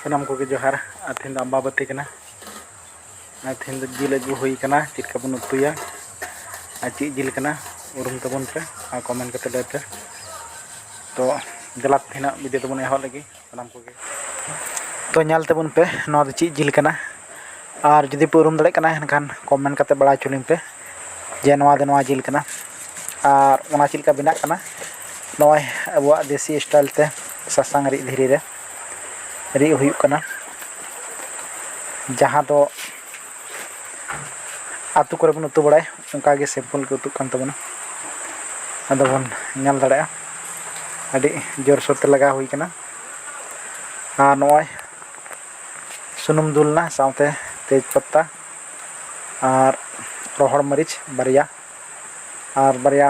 ᱥᱟᱱᱟᱢ ᱠᱚᱜᱮ ᱡᱚᱦᱟᱨ ᱟᱨ ᱛᱮᱦᱮᱧ ᱫᱚ ᱟᱢᱵᱟᱵᱟᱹᱛᱤ ᱠᱟᱱᱟ ᱟᱨ ᱛᱮᱦᱮᱧ ᱫᱚ ᱡᱤᱞ ᱟᱹᱜᱩ ᱦᱩᱭ ᱠᱟᱱᱟ ᱪᱮᱫ ᱞᱮᱠᱟ ᱵᱚᱱ ᱩᱛᱩᱭᱟ ᱟᱨ ᱪᱮᱫ ᱡᱤᱞ ᱠᱟᱱᱟ ᱩᱨᱩᱢ ᱛᱟᱵᱚᱱ ᱯᱮ ᱟᱨ ᱠᱚᱢᱮᱱᱴ ᱠᱟᱛᱮ ᱞᱟᱹᱭ ᱯᱮ ᱛᱚ ᱫᱮᱞᱟ ᱛᱮᱦᱮᱧᱟᱜ ᱵᱷᱤᱰᱤᱭᱳ ᱫᱚᱵᱚᱱ ᱮᱦᱚᱵ ᱞᱮᱜᱮ ᱥᱟᱱᱟᱢ ᱠᱚᱜᱮ ᱛᱚ ᱧᱮᱞ ᱛᱟᱵᱚᱱ ᱯᱮ ᱱᱚᱣᱟ ᱫᱚ ᱪᱮᱫ ᱡᱤᱞ ᱠᱟᱱᱟ ᱟᱨ ᱡᱩᱫᱤ ᱯᱮ ᱩᱨᱩᱢ ᱫᱟᱲᱮᱭᱟᱜ ᱠᱟᱱᱟ ᱮᱱᱠᱷᱟᱱ ᱠᱚᱢᱮᱱᱴ ᱠᱟᱛᱮ ᱵᱟᱲᱟᱭ ᱦᱚᱪᱚ ᱞᱤᱧ ᱯᱮ ᱡᱮ ᱱᱚᱣᱟ ᱫᱚ ᱱᱚᱣᱟ ᱡᱤᱞ ᱠᱟᱱᱟ ᱟᱨ ᱚᱱᱟ ᱪᱮᱫ ᱞᱮᱠᱟ ᱵᱮᱱᱟᱜ ᱠᱟᱱᱟ ᱱᱚᱜᱼᱚᱭ ᱟᱵᱚᱣᱟᱜ ᱫᱮᱥᱤ ᱥᱴᱟᱭᱤᱞ ᱛᱮ ᱥᱟᱥᱟᱝ ᱨᱤᱫ ᱫᱷᱤᱨᱤ ᱨᱮ ᱨᱤᱫ ᱦᱩᱭᱩᱜ ᱠᱟᱱᱟ ᱡᱟᱦᱟᱸ ᱫᱚ ᱟᱛᱳ ᱠᱚᱨᱮ ᱵᱚᱱ ᱩᱛᱩ ᱵᱟᱲᱟᱭ ᱚᱱᱠᱟ ᱜᱮ ᱥᱤᱢᱯᱤᱞ ᱜᱮ ᱩᱛᱩᱜ ᱠᱟᱱ ᱛᱟᱵᱚᱱᱟ ᱟᱫᱚ ᱵᱚᱱ ᱧᱮᱞ ᱫᱟᱲᱮᱭᱟᱜᱼᱟ ᱟᱹᱰᱤ ᱡᱳᱨᱥᱳᱨ ᱛᱮ ᱞᱟᱜᱟᱣ ᱦᱩᱭ ᱠᱟᱱᱟ ᱟᱨ ᱱᱚᱜᱼᱚᱭ ᱥᱩᱱᱩᱢ ᱫᱩᱞ ᱮᱱᱟ ᱥᱟᱶᱛᱮ ᱛᱮᱡᱽ ᱯᱟᱛᱟ ᱟᱨ ᱨᱚᱦᱚᱲ ᱢᱟᱹᱨᱤᱪ ᱵᱟᱨᱭᱟ ᱟᱨ ᱵᱟᱨᱭᱟ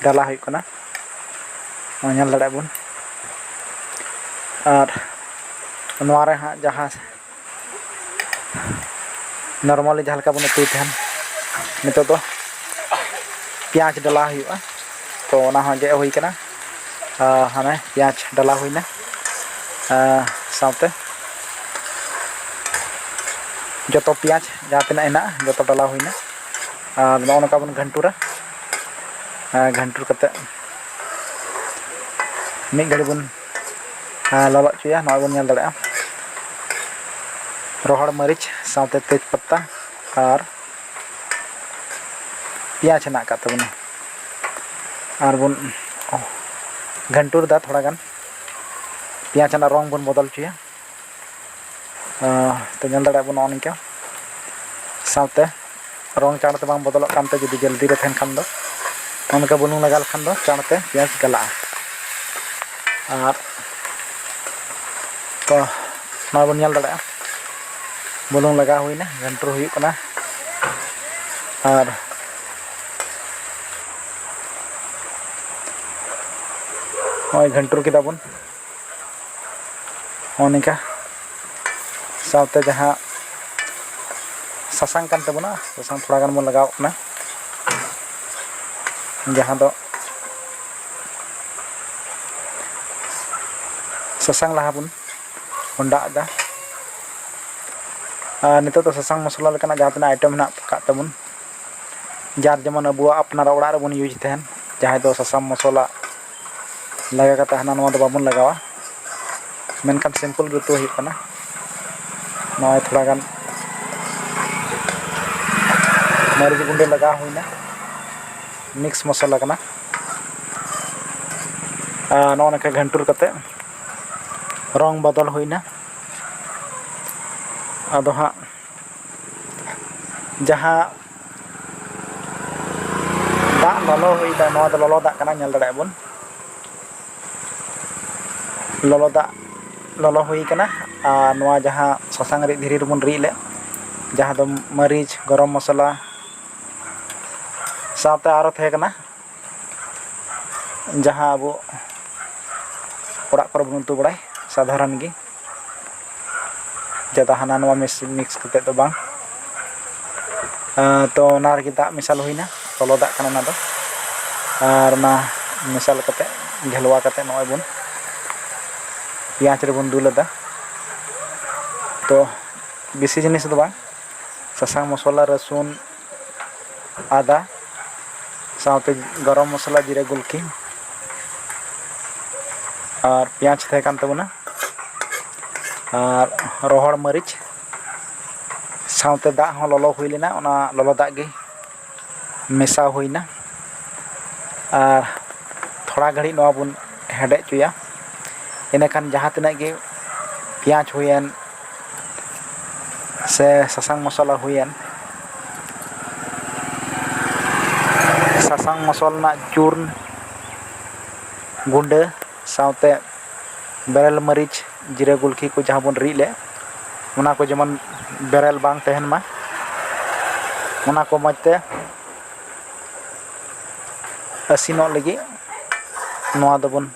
ᱰᱟᱞᱟ ᱦᱩᱭᱩᱜ ᱠᱟᱱᱟ ᱱᱚᱜᱼᱚᱭ ᱧᱮᱞ ᱫᱟᱲᱮᱭᱟᱜᱼᱟ ᱵᱚᱱ ᱟᱨ ᱱᱚᱣᱟ ᱨᱮ ᱦᱟᱸᱜ ᱡᱟᱦᱟᱸ ᱱᱚᱨᱢᱟᱞᱤ ᱡᱟᱦᱟᱸ ᱞᱮᱠᱟ ᱵᱚᱱ ᱩᱛᱩᱭ ᱛᱟᱦᱮᱱ ᱱᱤᱛᱚᱜ ᱫᱚ ᱯᱮᱸᱭᱟᱡᱽ ᱰᱟᱞᱟ ᱦᱩᱭᱩᱜᱼᱟ ᱛᱚ ᱚᱱᱟ ᱦᱚᱸ ᱜᱮᱫ ᱦᱩᱭ ᱠᱟᱱᱟ ᱦᱟᱱᱮ ᱯᱮᱸᱭᱟᱡᱽ ᱰᱟᱞᱟ ᱦᱩᱭᱱᱟ ᱥᱟᱶᱛᱮ ᱡᱚᱛᱚ ᱯᱮᱸᱭᱟᱡᱽ ᱡᱟᱦᱟᱸ ᱛᱤᱱᱟᱹᱜ ᱦᱮᱱᱟᱜᱼᱟ ᱡᱚᱛᱚ ᱰᱟᱞᱟ ᱦᱩᱭᱱᱟ ᱟᱨ ᱱᱚᱜᱼᱚ ᱱᱚᱝᱠᱟ ᱵᱚᱱ ᱜᱷᱟᱱᱴᱩᱨᱟ ᱜᱷᱟᱱᱴᱩᱨ ᱠᱟᱛᱮ ᱢᱤᱫ ᱜᱷᱟᱹᱲᱤ ᱵᱚᱱ ᱞᱚᱞᱚ ᱦᱚᱪᱚᱭᱟ ᱱᱚᱜᱼᱚᱭ ᱵᱚᱱ ᱧᱮᱞ ᱫᱟᱲᱮᱭᱟᱜᱼᱟ ᱨᱚᱦᱚᱲ ᱢᱟᱹᱨᱤᱪ ᱥᱟᱶᱛᱮ ᱛᱮᱡᱽ ᱯᱟᱛᱟ ᱟᱨ ᱯᱮᱸᱭᱟᱡᱽ ᱦᱮᱱᱟᱜ ᱟᱠᱟᱫ ᱛᱟᱵᱚᱱᱟ ᱟᱨ ᱵᱚᱱ ᱜᱷᱟᱱᱴᱩᱨᱫᱟ ᱛᱷᱚᱲᱟ ᱜᱟᱱ ᱯᱮᱸᱭᱟᱡᱽ ᱨᱮᱱᱟᱜ ᱨᱚᱝ ᱵᱚᱱ ᱵᱚᱫᱚᱞ ᱦᱚᱪᱚᱭᱟ ᱛᱚ ᱧᱮᱞ ᱫᱟᱲᱮᱭᱟᱜ ᱟᱵᱚᱱ ᱱᱚᱜᱼᱚ ᱱᱤᱝᱠᱟ ᱥᱟᱶᱛᱮ ᱨᱚᱝ ᱪᱟᱬ ᱛᱮ ᱵᱟᱝ ᱵᱚᱫᱚᱞᱚᱜ ᱠᱟᱱ ᱛᱮ ᱡᱩᱫᱤ ᱡᱚᱞᱫᱤ ᱨᱮ ᱛᱟᱦᱮᱱ ᱠᱷᱟᱱ ᱫᱚ ᱚᱱᱠᱟ ᱵᱩᱞᱩᱝ ᱞᱟᱜᱟᱣ ᱞᱮᱠᱷᱟᱱ ᱫᱚ ᱪᱟᱬ ᱛᱮ ᱯᱮᱸᱭᱟᱡᱽ ᱜᱟᱞᱟᱜᱼᱟ ᱟᱨ ᱛᱚ ᱱᱚᱣᱟ ᱵᱚᱱ ᱧᱮᱞ ᱫᱟᱲᱮᱭᱟᱜᱼᱟ ᱵᱩᱞᱩᱝ ᱞᱟᱜᱟᱣ ᱦᱩᱭᱱᱟ ᱜᱷᱟᱱᱴᱩᱨ ᱦᱩᱭᱩᱜ ᱠᱟᱱᱟ ᱟᱨ ᱱᱚᱜᱼᱚᱭ ᱜᱷᱟᱱᱴᱩᱨ ᱠᱮᱫᱟ ᱵᱚᱱ ᱱᱚᱜᱼᱚ ᱱᱤᱝᱠᱟ ᱥᱟᱶᱛᱮ ᱡᱟᱦᱟᱸ ᱥᱟᱥᱟᱝ ᱠᱟᱱ ᱛᱟᱵᱚᱱᱟ ᱥᱟᱥᱟᱝ ᱛᱷᱚᱲᱟ ᱜᱟᱱ ᱵᱚᱱ ᱞᱟᱜᱟᱣᱟᱜ ᱠᱟᱱᱟ ᱡᱟᱦᱟᱸ ᱫᱚ ᱥᱟᱥᱟᱝ ᱞᱟᱦᱟ ᱵᱚᱱ ᱵᱚᱱ ᱫᱟᱜ ᱮᱫᱟ ᱟᱨ ᱱᱤᱛᱚᱜ ᱫᱚ ᱥᱟᱥᱟᱝ ᱢᱚᱥᱞᱟ ᱞᱮᱠᱟᱱᱟᱜ ᱡᱟᱦᱟᱸ ᱛᱤᱱᱟᱹᱜ ᱟᱭᱴᱮᱢ ᱢᱮᱱᱟᱜ ᱟᱠᱟᱫ ᱛᱟᱵᱚᱱ ᱡᱟᱨ ᱡᱮᱢᱚᱱ ᱟᱵᱚᱣᱟᱜ ᱟᱯᱱᱟᱨᱟᱜ ᱚᱲᱟᱜ ᱨᱮᱵᱚᱱ ᱤᱭᱩᱡᱽ ᱛᱟᱦᱮᱱ ᱡᱟᱦᱟᱸᱭ ᱫᱚ ᱥᱟᱥᱟᱝ ᱢᱚᱥᱞᱟ ᱞᱟᱜᱟᱣ ᱠᱟᱛᱮ ᱦᱟᱱᱟ ᱱᱚᱣᱟ ᱫᱚ ᱵᱟᱵᱚᱱ ᱞᱟᱜᱟᱣᱟ ᱢᱮᱱᱠᱷᱟᱱ ᱥᱤᱢᱯᱤᱞ ᱜᱮ ᱩᱛᱩ ᱦᱩᱭᱩᱜ ᱠᱟᱱᱟ ᱱᱚᱜᱼᱚᱭ ᱛᱷᱚᱲᱟ ᱜᱟᱱ ᱢᱟᱹᱨᱤᱪ ᱜᱩᱰᱟᱹ ᱞᱟᱜᱟᱣ ᱦᱩᱭᱱᱟ ᱢᱤᱠᱥ ᱢᱚᱥᱞᱟ ᱠᱟᱱᱟ ᱟᱨ ᱱᱚᱜᱼᱚ ᱱᱚᱝᱠᱟ ᱜᱷᱟᱱᱴᱩᱨ ᱠᱟᱛᱮ ᱨᱚᱝ ᱵᱚᱫᱚᱞ ᱦᱩᱭ ᱮᱱᱟ ᱟᱫᱚ ᱦᱟᱸᱜ ᱡᱟᱦᱟᱸ ᱫᱟᱜ ᱞᱚᱞᱚ ᱦᱩᱭ ᱟᱠᱟᱱᱟ ᱱᱚᱣᱟ ᱫᱚ ᱞᱚᱞᱚ ᱫᱟᱜ ᱠᱟᱱᱟ ᱧᱮᱞ ᱫᱟᱲᱮᱭᱟᱜ ᱟᱵᱚᱱ ᱞᱚᱞᱚ ᱫᱟᱜ ᱞᱚᱞᱚ ᱦᱩᱭ ᱟᱠᱟᱱᱟ ᱟᱨ ᱱᱚᱣᱟ ᱡᱟᱦᱟᱸ ᱥᱟᱥᱟᱝ ᱨᱤᱫ ᱫᱷᱤᱨᱤ ᱨᱮᱵᱚᱱ ᱨᱤᱫ ᱞᱮᱫ ᱡᱟᱦᱟᱸ ᱫᱚ ᱢᱟᱹᱨᱤᱪ ᱜᱚᱨᱚᱢ ᱢᱚᱥᱞᱟ ᱥᱟᱶᱛᱮ ᱟᱨᱚ ᱛᱟᱦᱮᱸ ᱠᱟᱱᱟ ᱡᱟᱦᱟᱸ ᱟᱵᱚ ᱚᱲᱟᱜ ᱠᱚᱨᱮ ᱵᱚᱱ ᱩᱛᱩ ᱵᱟᱲᱟᱭ ᱥᱟᱫᱷᱟᱨᱚᱱ ᱜᱮ ᱡᱟᱫᱟ ᱦᱟᱱᱟ ᱱᱚᱣᱟ ᱢᱤᱠᱥ ᱠᱟᱛᱮ ᱫᱚ ᱵᱟᱝ ᱛᱚ ᱚᱱᱟ ᱨᱮᱜᱮ ᱫᱟᱜ ᱢᱮᱥᱟᱞ ᱦᱩᱭᱱᱟ ᱞᱚᱞᱚ ᱫᱟᱜ ᱠᱟᱱᱟ ᱚᱱᱟ ᱫᱚ ᱟᱨ ᱚᱱᱟ ᱢᱮᱥᱟᱞ ᱠᱟᱛᱮ ᱜᱷᱮᱞᱣᱟ ᱠᱟᱛᱮ ᱱᱚᱜᱼᱚᱭ ᱵᱚᱱ ᱯᱮᱸᱭᱟᱡᱽ ᱨᱮᱵᱚᱱ ᱫᱩᱞ ᱟᱫᱟ ᱛᱚ ᱵᱮᱥᱤ ᱡᱤᱱᱤᱥ ᱫᱚ ᱵᱟᱝ ᱥᱟᱥᱟᱝ ᱢᱚᱥᱞᱟ ᱨᱟᱹᱥᱩᱱ ᱟᱫᱟ ᱥᱟᱶᱛᱮ ᱜᱚᱨᱚᱢ ᱢᱚᱥᱞᱟ ᱡᱤᱨᱟᱹ ᱜᱩᱞᱠᱤ ᱟᱨ ᱯᱮᱸᱭᱟᱡᱽ ᱛᱟᱦᱮᱸ ᱠᱟᱱ ᱛᱟᱵᱚᱱᱟ ᱟᱨ ᱨᱚᱦᱚᱲ ᱢᱟᱹᱨᱤᱪ ᱥᱟᱶᱛᱮ ᱫᱟᱜ ᱦᱚᱸ ᱞᱚᱞᱚ ᱦᱩᱭ ᱞᱮᱱᱟ ᱚᱱᱟ ᱞᱚᱞᱚ ᱫᱟᱜ ᱜᱮ ᱢᱮᱥᱟ ᱦᱩᱭᱱᱟ ᱟᱨ ᱛᱷᱚᱲᱟ ᱜᱷᱟᱹᱲᱤᱡ ᱱᱚᱣᱟ ᱵᱚᱱ ᱦᱮᱰᱮᱡ ᱦᱚᱪᱚᱭᱟ ᱤᱱᱟᱹᱠᱷᱟᱱ ᱡᱟᱦᱟᱸ ᱛᱤᱱᱟᱹᱜ ᱜᱮ ᱯᱮᱸᱭᱟᱡᱽ ᱦᱩᱭᱮᱱ ᱥᱮ ᱥᱟᱥᱟᱝ ᱢᱚᱥᱞᱟ ᱦᱩᱭᱮᱱ ᱥᱟᱥᱟᱝ ᱢᱚᱥᱞᱟ ᱨᱮᱱᱟᱜ ᱪᱩᱨᱱ ᱜᱩᱸᱰᱟᱹ ᱥᱟᱶᱛᱮ ᱵᱮᱨᱮᱞ ᱢᱟᱹᱨᱤᱪ ᱡᱤᱨᱟᱹ ᱜᱩᱞᱠᱤ ᱠᱚ ᱡᱟᱦᱟᱸ ᱵᱚᱱ ᱨᱤᱫ ᱞᱮᱫ ᱚᱱᱟ ᱠᱚ ᱡᱮᱢᱚᱱ ᱵᱮᱨᱮᱞ ᱵᱟᱝ ᱛᱟᱦᱮᱱ ᱢᱟ ᱚᱱᱟ ᱠᱚ ᱢᱚᱡᱽ ᱛᱮ ᱤᱥᱤᱱᱚᱜ ᱞᱟᱹᱜᱤᱫ ᱱᱚᱣᱟ ᱫᱚᱵᱚᱱ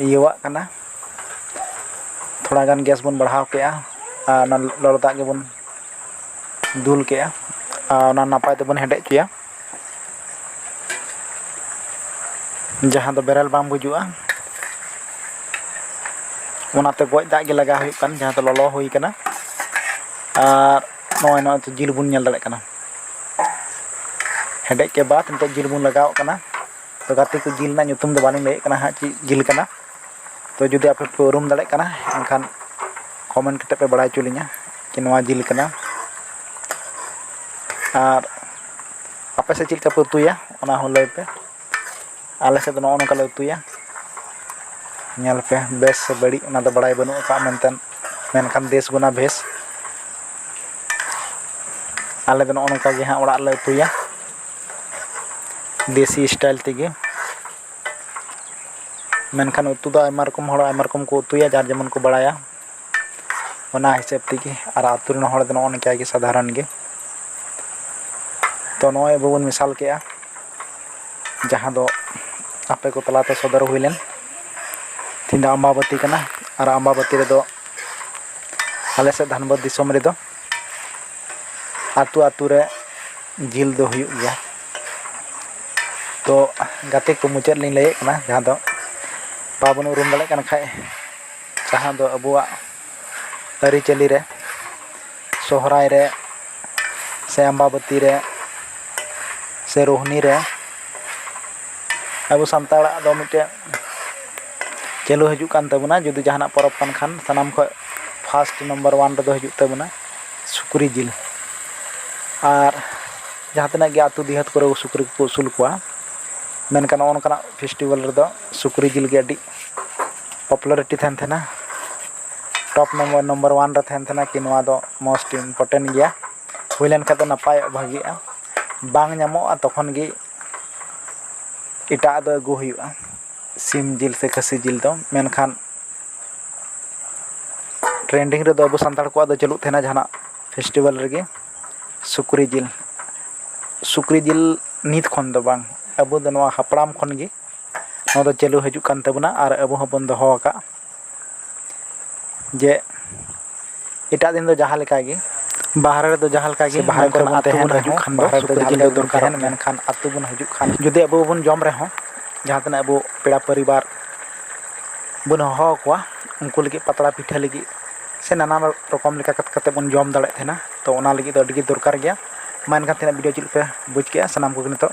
ᱤᱭᱟᱹᱣᱟᱜ ᱠᱟᱱᱟ ᱛᱷᱚᱲᱟ ᱜᱟᱱ ᱜᱮᱥ ᱵᱚᱱ ᱵᱟᱲᱦᱟᱣ ᱠᱮᱫᱼᱟ ᱟᱨ ᱚᱱᱟ ᱞᱚᱞᱚ ᱫᱟᱜ ᱜᱮᱵᱚᱱ ᱫᱩᱞ ᱠᱮᱫᱼᱟ ᱟᱨ ᱚᱱᱟ ᱱᱟᱯᱟᱭ ᱛᱮᱵᱚᱱ ᱦᱮᱰᱮᱡ ᱦᱚᱪᱚᱭᱟ ᱡᱟᱦᱟᱸ ᱫᱚ ᱵᱮᱨᱮᱞ ᱵᱟᱝ ᱵᱩᱡᱩᱜᱼᱟ ᱚᱱᱟᱛᱮ ᱜᱚᱡ ᱫᱟᱜ ᱜᱮ ᱞᱟᱜᱟᱣ ᱦᱩᱭᱩᱜ ᱠᱟᱱᱟ ᱡᱟᱦᱟᱸ ᱫᱚ ᱞᱚᱞᱚ ᱦᱩᱭ ᱠᱟᱱᱟ ᱟᱨ ᱱᱚᱜᱼᱚᱭ ᱱᱚᱣᱟ ᱱᱤᱛᱳᱜ ᱡᱤᱞ ᱵᱚᱱ ᱧᱮᱞ ᱫᱟᱲᱮᱭᱟᱜ ᱠᱟᱱᱟ ᱦᱮᱰᱮᱡ ᱠᱮ ᱵᱟᱫ ᱱᱤᱛᱳᱜ ᱡᱤᱞ ᱵᱚᱱ ᱞᱟᱜᱟᱣᱟᱜ ᱠᱟᱱᱟ ᱛᱚ ᱜᱟᱛᱮ ᱠᱚ ᱡᱤᱞ ᱨᱮᱱᱟᱜ ᱧᱩᱛᱩᱢ ᱫᱚ ᱵᱟᱹᱞᱤᱧ ᱞᱟᱹᱭᱮᱫ ᱠᱟᱱᱟ ᱦᱟᱸᱜ ᱪᱮᱫ ᱡᱤᱞ ᱠᱟᱱᱟ ᱛᱚ ᱡᱩᱫᱤ ᱟᱯᱮ ᱯᱮ ᱩᱨᱩᱢ ᱫᱟᱲᱮᱭᱟᱜ ᱠᱟᱱᱟ ᱮᱱᱠᱷᱟᱱ ᱠᱚᱢᱮᱱᱴ ᱠᱟᱛᱮ ᱯᱮ ᱵᱟᱲᱟᱭ ᱦᱚᱪᱚ ᱞᱤᱧᱟ ᱡᱮ ᱱᱚᱣᱟ ᱡᱤᱞ ᱠᱟᱱᱟ ᱟᱨ ᱟᱯᱮ ᱥᱮᱫ ᱪᱮᱫ ᱞᱮᱠᱟ ᱯᱮ ᱩᱛᱩᱭᱟ ᱚᱱᱟ ᱦᱚᱸ ᱞᱟᱹᱭ ᱯᱮ ᱟᱞᱮ ᱥᱮᱫ ᱫᱚ ᱱᱚᱜᱼᱚ ᱱᱚᱝᱠᱟ ᱞᱮ ᱩᱛᱩᱭᱟ ᱧᱮᱞ ᱯᱮ ᱵᱮᱥ ᱥᱮ ᱵᱟᱹᱲᱤᱡ ᱚᱱᱟ ᱫᱚ ᱵᱟᱲᱟᱭ ᱵᱟᱹᱱᱩᱜ ᱟᱠᱟᱫᱼᱟ ᱢᱮᱱᱛᱮ ᱢᱮᱱᱠᱷᱟᱱ ᱫᱮᱥ ᱜᱩᱱᱟ ᱵᱷᱮᱥ ᱟᱞᱮ ᱫᱚ ᱱᱚᱜᱼᱚ ᱱᱚᱝᱠᱟ ᱜᱮ ᱦᱟᱸᱜ ᱚᱲᱟᱜ ᱨᱮᱞᱮ ᱩᱛᱩᱭᱟ ᱫᱮᱥᱤ ᱥᱴᱟᱭᱤᱞ ᱛᱮᱜᱮ ᱢᱮᱱᱠᱷᱟᱱ ᱩᱛᱩ ᱫᱚ ᱟᱭᱢᱟ ᱨᱚᱠᱚᱢ ᱦᱚᱲ ᱟᱭᱢᱟ ᱨᱚᱠᱚᱢ ᱠᱚ ᱩᱛᱩᱭᱟ ᱡᱟᱨ ᱡᱮᱢᱚᱱ ᱠᱚ ᱵᱟᱲᱟᱭᱟ ᱚᱱᱟ ᱦᱤᱥᱟᱹᱵ ᱛᱮᱜᱮ ᱟᱨ ᱟᱹᱛᱩ ᱨᱮᱱ ᱦᱚᱲ ᱫᱚ ᱱᱚᱜᱼᱚ ᱱᱚᱝᱠᱟ ᱜᱮ ᱥᱟᱫᱷᱟᱨᱚᱱ ᱜᱮ ᱛᱚ ᱱᱚᱜᱼᱚᱭ ᱟᱵᱚ ᱵᱚᱱ ᱢᱮᱥᱟᱞ ᱠᱮᱫᱼᱟ ᱡᱟᱦᱟᱸ ᱫᱚ ᱟᱯᱮ ᱠᱚ ᱛᱟᱞᱟ ᱛᱮ ᱥᱚᱫᱚᱨ ᱦᱩᱭ ᱞᱮᱱ ᱛᱮᱦᱮᱧ ᱫᱚ ᱟᱢᱵᱟᱵᱟᱹᱛᱤ ᱠᱟᱱᱟ ᱟᱨ ᱟᱢᱵᱟᱵᱟᱹᱛᱤ ᱨᱮᱫᱚ ᱟᱞᱮ ᱥᱮᱫ ᱫᱷᱟᱱᱵᱟᱫᱽ ᱫᱤᱥᱚᱢ ᱨᱮᱫᱚ ᱟᱹᱛᱩ ᱟᱹᱛᱩ ᱨᱮ ᱡᱤᱞ ᱫᱚ ᱦᱩᱭᱩᱜ ᱜᱮᱭᱟ ᱛᱚ ᱜᱟᱛᱮ ᱠᱚ ᱢᱩᱪᱟᱹᱫ ᱨᱮᱞᱤᱧ ᱞᱟᱹᱭᱮᱫ ᱠᱟᱱᱟ ᱡᱟᱦᱟᱸ ᱫᱚ ᱵᱟᱵᱚᱱ ᱩᱨᱩᱢ ᱫᱟᱲᱮᱭᱟᱜ ᱠᱟᱱ ᱠᱷᱟᱡ ᱡᱟᱦᱟᱸ ᱫᱚ ᱟᱵᱚᱣᱟᱜ ᱟᱹᱨᱤᱪᱟᱹᱞᱤ ᱨᱮ ᱥᱚᱦᱨᱟᱭ ᱨᱮ ᱥᱮ ᱟᱢᱵᱟᱵᱟᱹᱛᱤ ᱨᱮ ᱥᱮ ᱨᱳᱦᱱᱤ ᱨᱮ ᱟᱵᱚ ᱥᱟᱱᱛᱟᱲᱟᱜ ᱫᱚ ᱢᱤᱫᱴᱮᱡ ᱪᱟᱹᱞᱩ ᱦᱤᱡᱩᱜ ᱠᱟᱱ ᱛᱟᱵᱚᱱᱟ ᱡᱩᱫᱤ ᱡᱟᱦᱟᱱᱟᱜ ᱯᱚᱨᱚᱵᱽ ᱠᱟᱱ ᱠᱷᱟᱱ ᱥᱟᱱᱟᱢ ᱠᱷᱚᱱ ᱯᱷᱟᱥᱴ ᱱᱟᱢᱵᱟᱨ ᱚᱣᱟᱱ ᱨᱮᱫᱚ ᱦᱤᱡᱩᱜ ᱛᱟᱵᱚᱱᱟ ᱥᱩᱠᱨᱤ ᱡᱤᱞ ᱟᱨ ᱡᱟᱦᱟᱸ ᱛᱤᱱᱟᱹᱜ ᱜᱮ ᱟᱹᱛᱩ ᱰᱤᱦᱟᱹᱛ ᱠᱚᱨᱮ ᱥᱩᱠᱨᱤ ᱠᱚᱠᱚ ᱟᱹᱥᱩᱞ ᱠᱚᱣᱟ ᱢᱮᱱᱠᱷᱟᱱ ᱱᱚᱜᱼᱚ ᱱᱚᱝᱠᱟᱱᱟᱜ ᱯᱷᱮᱥᱴᱤᱵᱷᱮᱞ ᱨᱮᱫᱚ ᱥᱩᱠᱨᱤ ᱡᱤᱞ ᱜᱮ ᱟᱹᱰᱤ ᱯᱚᱯᱩᱞᱟᱨᱤᱴᱤ ᱛᱟᱦᱮᱱ ᱛᱟᱦᱮᱱᱟ ᱴᱚᱯ ᱱᱟᱢᱵᱟᱨ ᱱᱟᱢᱵᱟᱨ ᱚᱣᱟᱱ ᱨᱮ ᱛᱟᱦᱮᱱ ᱛᱟᱦᱮᱱᱟ ᱠᱤ ᱱᱚᱣᱟ ᱫᱚ ᱢᱳᱥᱴ ᱤᱢᱯᱳᱨᱴᱮᱱᱴ ᱜᱮᱭᱟ ᱦᱩᱭ ᱞᱮᱱᱠᱷᱟᱱ ᱫᱚ ᱱᱟᱯᱟᱭᱚᱜᱼᱟ ᱵᱷᱟᱹᱜᱤᱜᱼᱟ ᱵᱟᱝ ᱧᱟᱢᱚᱜᱼᱟ ᱛᱚᱠᱷᱚᱱ ᱜᱮ ᱮᱴᱟᱜ ᱟᱜ ᱫᱚ ᱟᱹᱜᱩ ᱦᱩᱭᱩᱜᱼᱟ ᱥᱤᱢ ᱡᱤᱞ ᱥᱮ ᱠᱷᱟᱹᱥᱤ ᱡᱤᱞ ᱫᱚ ᱢᱮᱱᱠᱷᱟᱱ ᱴᱨᱮᱱᱰᱤᱝ ᱨᱮᱫᱚ ᱟᱵᱚ ᱥᱟᱱᱛᱟᱲ ᱠᱚᱣᱟᱜ ᱫᱚ ᱪᱟᱹᱞᱩᱜ ᱛᱟᱦᱮᱱᱟ ᱡᱟᱦᱟᱱᱟᱜ ᱯᱷᱮᱥᱴᱤᱵᱷᱮᱞ ᱨᱮᱜᱮ ᱥᱩᱠᱨᱤ ᱡᱤᱞ ᱥᱩᱠᱨᱤ ᱡᱤᱞ ᱱᱤᱛ ᱠᱷᱚᱱ ᱫᱚ ᱵᱟᱝ ᱟᱵᱚ ᱫᱚ ᱱᱚᱣᱟ ᱦᱟᱯᱲᱟᱢ ᱠᱷᱚᱱ ᱜᱮ ᱱᱚᱣᱟ ᱫᱚ ᱪᱟᱹᱞᱩ ᱦᱤᱡᱩᱜ ᱠᱟᱱ ᱛᱟᱵᱚᱱᱟ ᱟᱨ ᱟᱵᱚ ᱦᱚᱸᱵᱚᱱ ᱫᱚᱦᱚ ᱟᱠᱟᱫ ᱡᱮ ᱮᱴᱟᱜ ᱫᱤᱱ ᱫᱚ ᱡᱟᱦᱟᱸ ᱞᱮᱠᱟ ᱜᱮ ᱵᱟᱦᱨᱮ ᱨᱮᱫᱚ ᱡᱟᱦᱟᱸ ᱞᱮᱠᱟ ᱜᱮ ᱥᱮ ᱵᱟᱦᱨᱮ ᱢᱮᱱᱠᱷᱟᱱ ᱠᱚᱨᱮᱱᱟᱜ ᱟᱹᱛᱩ ᱛᱟᱦᱮᱱ ᱵᱚᱱ ᱦᱤᱡᱩᱜ ᱨᱮᱦᱚᱸ ᱠᱷᱟᱱ ᱫᱚ ᱵᱟᱦᱨᱮ ᱨᱮᱫᱚ ᱥᱩᱠᱨᱤ ᱡᱟᱦᱟᱸ ᱡᱤᱞ ᱞᱮᱠᱟ ᱫᱚ ᱜᱮ ᱵᱚᱱ ᱫᱚᱨᱠᱟᱨᱚᱜ ᱛᱟᱦᱮᱱ ᱜᱮᱭᱟ ᱢᱮᱱᱠᱷᱟᱱ ᱟᱹᱛᱩ ᱵᱚᱱ ᱦᱤᱡᱩᱜ ᱠᱷᱟᱱ ᱡᱩᱫᱤ ᱟᱵᱚ ᱵᱚᱱ ᱡᱚᱢ ᱨᱮᱦᱚᱸ ᱡᱟᱦᱟᱸ ᱛᱤᱱᱟᱹᱜ ᱟᱵᱚ ᱯᱮᱲᱟ ᱯᱚᱨᱤᱵᱟᱨ ᱵᱚᱱ ᱦᱚᱦᱚ ᱟᱠᱚᱣᱟ ᱩᱱᱠᱩ ᱞᱟᱹᱜᱤᱫ ᱯᱟᱛᱲᱟ ᱯᱤᱴᱷᱟᱹ ᱞᱟᱹᱜᱤᱫ ᱥᱮ ᱱᱟᱱᱟ ᱨᱚᱠᱚᱢ ᱞᱮᱠᱟ ᱠᱟᱛᱮ ᱵᱚᱱ ᱡᱚᱢ ᱫᱟᱲᱮᱭᱟᱜ ᱛᱟᱦᱮᱱᱟ ᱛᱚ ᱚᱱᱟ ᱞᱟᱹᱜᱤᱫ ᱫᱚ ᱟᱹᱰᱤ ᱜᱮ ᱫᱚᱨᱠᱟᱨ ᱜᱮᱭᱟ ᱢᱟ ᱮᱱᱠᱷᱟᱱ ᱛᱮᱦᱮᱧᱟᱜ ᱵᱷᱤᱰᱤᱭᱳ ᱪᱮᱫ ᱞᱮᱠᱟ ᱯᱮ ᱵᱩᱡᱽ ᱠᱮᱜᱼᱟ ᱥᱟᱱᱟᱢ ᱠᱚᱜᱮ ᱱᱤᱛᱚᱜ